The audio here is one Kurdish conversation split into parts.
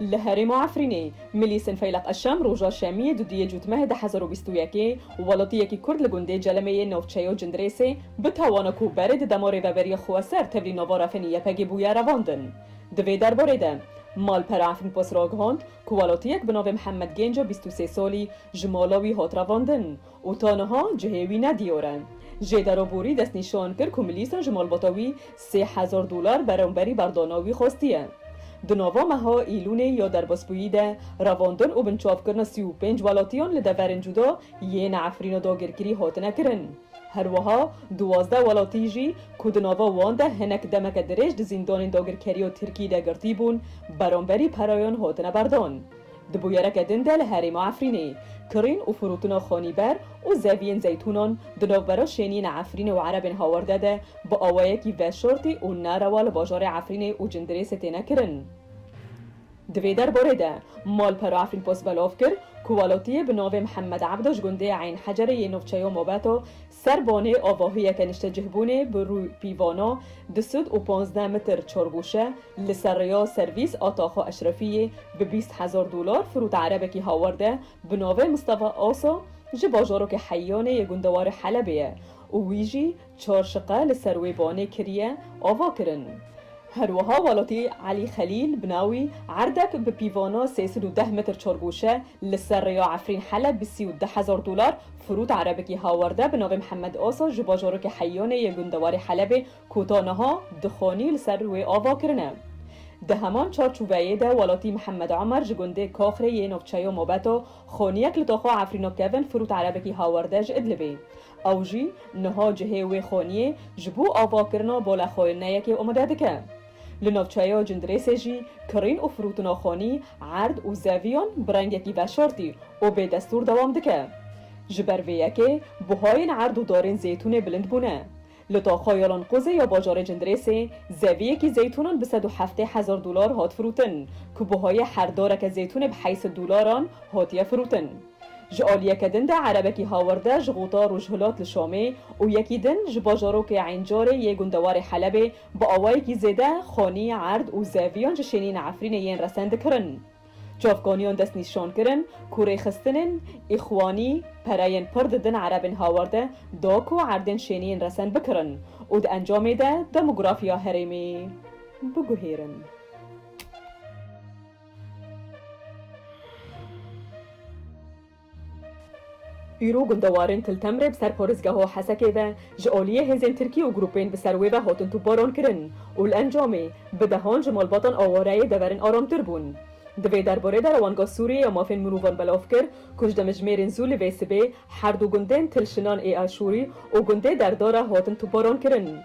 Li herêma Efrînê, Milîsên Feyleq Eşem roja şemiyê dudiyê cûtmehê du hezar û bîst û yekê welatiyekî kurd li gundê Celemê yê navçeyo Cindirêsê bi tawana ku berê di dema rêveberiya xweser tevlî navara fenî YPG'ê bûye revandin. Di vê derbarê de Malpera Efrînpost ragihand ku welatiyek bi navê Mihemed Gênca bîst û sê salî ji mala wî hat revandin Û ta niha cihê wî ne dîyor e. Jê Deroborî destnîşan kir ku Milîsa ji malbata wî sê hezar dolar beramberî berdana wî xwestiye. Di nava meha Îlûnê ya derbasbûyî de revandin û binçavkirina sî û pênc welatiyan li deverên cuda yên Efrîna dagirkirî hatine kirin. Herwiha duwazdeh welatî jî ku di nava wan de hinek demeke dirêj di zîndanên dagirkeriya Tirkî de girtîbûn beramberî perayan hatine berdan. Di bûyereke din de li herêma Efrînê, kirîn û firotina xanîber û zeviyên zeytûnan di navbera şêniyên Efrînê û erebên hawerde de bi awayekî veşartî û nerewa li bajarê Efrînê û Cindirêsê têne kirin. Di vê derbarê de malpera Efrînpost belav kir ku welatiyê bi navê Mihemed Ebda ji gundê Eyn Hecerê yê navçeya Mabeta Ser bonê avahiyeke niştecihbûnê bi rû pîvana du sed û pazdeh mitr çargûşe li ser rêya servîs a Taxa Eşrefiyê bi bîst hezar dolar firûta erebekî hawer de bi navê Mistefa Asa ji bajarokê Heyyane yê gundewarê Helebê ye û wî jî çar şiqe li ser wê banê kiriye avakirin. Her wiha welatî Elî Xelîl bi navî Erdek bi pîvana sê sed û deh metr çargoşe li ser rêya Efrîn Heleb bi sî û du hezar dolar firût erebekî hawerde bi navê Mihemed Asa ji bajarokê Heyanê yê gundewarê Helebê ku ta niha du xanî li ser wê ava kirine. Di heman çar çûveyê de welatî Mihemed Omer ji gundê Kaxrê yê navçeya Mabeta xaniyek li taxa Efrîna kevin firût erebekî hawerde ji Idlibê Ew jî niha cihê wê xweniyê ji bo avakirina bola xwe ne yekê omade dike. Li navçeya Cindirêsê jî kirîn û firûtina xwenî erd û zeviyan bi rengekî veşartî û bêdestûr dewam dike. Ji ber vê yekê buhayên erd û darên zeytûnê bilind bûne. Li taxa ya Lanqozê ya bajarê Cindirêsê zeviyekî zeytûnan bi sed û heftê hezar dolar hat firûtin ku buhayê her dareke zeytûnê bi heysi dolaran hatiye firûtin. Ji aliyeke din de erebekî hawerde ji xûta rojhilat li Şamê û yekî din ji bajarokê Eyncarê yê gundewarê Helebê bi awayekî zêde xanî, erd û zeviyan ji şênîna Efrînê yên resen dikirin. Çavkaniyan dest nîşan kirin ku rêxistinên Îxwanî pereyên pir didin erebên hawerde da ku erdên şênî yên resen bikirin û di encamê de demografiya herêmê biguhêrin. Îro gundewarên Tiltemre bi ser Porizgeho Hesekê ve ji aliyê hêzên Tirkî û grûpên bi ser wê ve hatin topbaran kirin û li encamê bi dehan ji malbatan a wareyê deverin aramtir bûn. Di vê derbarê de Rewandga Sûriyê ya Mafên Mirovan belav kir ku ji demijmêrên zû li vê sibê her du gundên Til Şinan ê Aşûrî û gundê Derda re hatin topbaran kirin.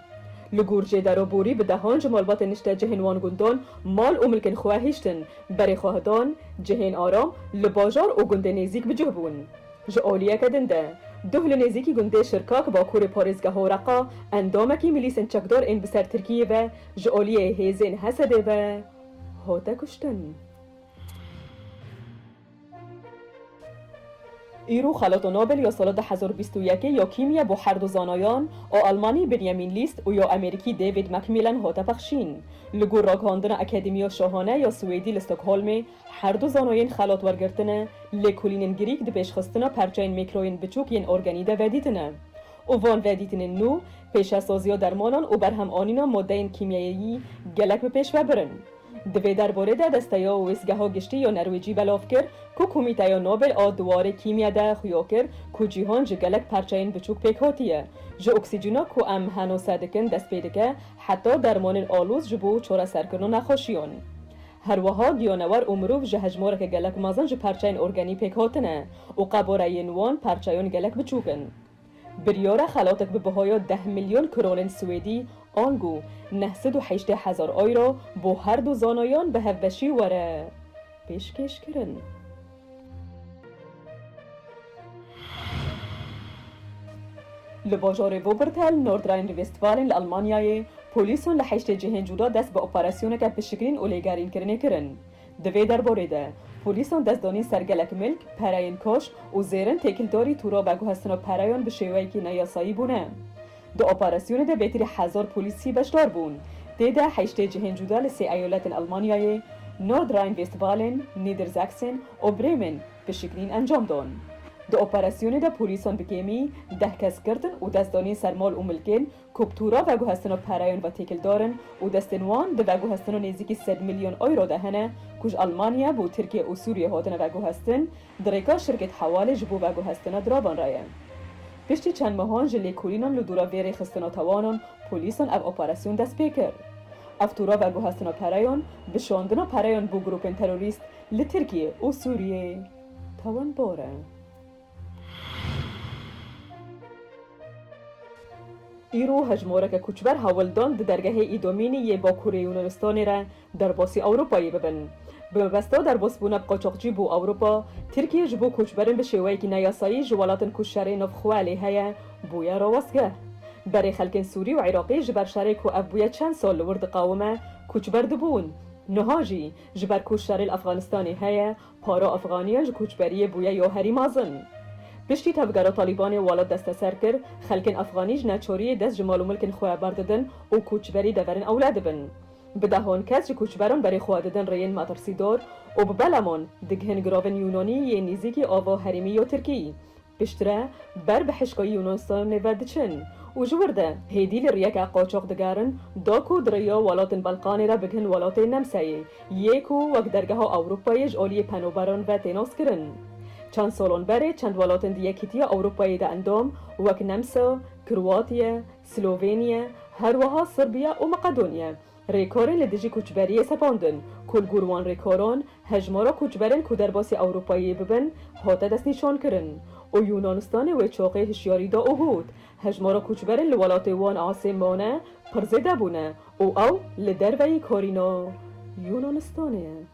Li Gurcê Dero Borî bi dehan ji malbatên niştecihên wan gundan mal û milkên xwe hiştin. Berê xwe hitan, cihên aram li bajar û gundên nêzîk bi cih bûn. Ji aliyeke din de, duh li nêzîkî gundê Şirkak bakurê parêzgeha Horeqa, endamekî milîsên çekdar ên bi ser Tirkiyê ve ji aliyê hêzên Hesedê ve hate kuştin. Îro Xelata Nobel ya sala du hezar û bîst û yekê ya kîmya bo her du zanayan a Almanî Benjamin List û ya Amerîkî David McMillan hate pexşîn. Li gor ragihandina Akademiya Şahane ya Swêdî li Stockholmê, her du zanayên xelat wergirtine, lêkolînên girîk di pêşxistina perçeyên mîkroyên biçûk yên organî de vedîtine û van vedîtinên nû pêşesaziya dermanan û berhemanîna madeyên kîmyayeyî gelek bi pêş vebirin. Di vê derborê de desteya Wêsgeha Giştî ya Nerwêcî belav kir ku Komîteya Nobel a di warê kîmya de xuya kir ku cîhan ji gelek parçeyên biçûk pêk hatiye. Ji oksîcîna ku em henose dikin dest pê dike heta dermanên alûz ji bo çareserkirina nexweşiyan. Her wiha giyanewer û mirov ji hejmareke gelek mezin ji parçeyên organî pêk hatine û qeboreyên wan parçeyan gelek biçûk in. Biryara xelatek bi bihaya deh milyon kronên swêdî angu neh sed û heştê hezar euro bo her du zanayan bi hevbeşî were pêşkêş kirin. Li bajarê Wuppertal, Nordrhein-Westfalen li Elmanyayê, polîsan li heştê cihên cuda dest bi operasyoneke pişikirîn û lêgerînkirinê kirin. Di vê derbarê de polîsan dest danîn ser gelek milk, pereyên koç û zêrin têkildarî tûra veguhestina pereyan bi şêweyekî neyasayî bûne. Di operasyonê de bêtirî hezar polîsî beşdar bûn. Tê de heştê cihên cuda li sê eyoletên Elmanyayê, Nordrhein-Westfalen, Niedersachsen û Bremen pişikînîn encam dan. Di operasyonê de polîsan bi kêmî deh kes girtin û dest danîn ser mal û milkên Kultura veguhestino pereyên ve têkildar in û destên wan di veguhestino nêzîkî sed milyon euro de hene ku ji Elmanya bo Tirkiye û Sûriye hatine veguhestin, di rêka Şirket Hewalê ji bo veguhestina diravan re ye. Piştî çend mehan ji lêkolînan li dora vê rêxistina tawanan polîsan ev operasyon dest pê kir. Ev tura veguhestina pereyan bi şandina pereyan bo grûpên terorîst li Tirkiye û Sûriyeyê tewendar e. Îro hejmareke koçber hewl dan di dergehê Îdomînî yê Bakurê Yûnanistanê re derbasî Ewropayê bibin. Bi mebesta derbasbûna bi qaçaxcî bo Ewropa, Tirkiye ji bo koçberin bi şêweyekî neyasayî ji welatin ku şerê navxwe lê heye bûye rawestgeh. Berê xelkên Sûrî û Iraqî ji ber şerê ku ev bûye çend sal li wir diqawime, koçber dibûn. Niha jî ji ber ku şerê li Efxanistanê heye, Para efxaniya ji koçberiyê bûye ya herî mazin. Piştî tevgera Talîbanê welat desteser kir, xelkên efxanî ji neçariyê dest ji mal û milkên xwe berdidin û koçberî deverên ewle dibin. Bi dehan kes ji koçberan berê xwe didin rêyên metirsîdar û bi belaman digihin giravên Yûnanî yê nîzîkî ava herêmî ya Tirkî. Piştre ber bi hişka Yûnus nêver diçin û ji wir de hêdî li riyeke qaçax digerin da ku di riya welatên Belqanê re bigihin welatê Nemsayê yê ku wek dergeha Ewropayê ji aliyê penoberan ve tê naskirin. Çend salan berê çend welatên di Yekîtiya Ewropayê de endam wek Nemsa, Kroatiye, Sloveniye, herweha Sirbiye û Maqedoniye Rêkorên li dijî koçberiyê sepandin, ku li gor wan rêkoran hejmara koçberên ku derbasî Ewropayê bibin hate destnîşankirin û Yûnanistanê wê çaxê hişyarî da û got, Hejmara koçberên li welatê wan asê mane pir zêde bûne û ew li derveyî karîna Yûnanistanê ye.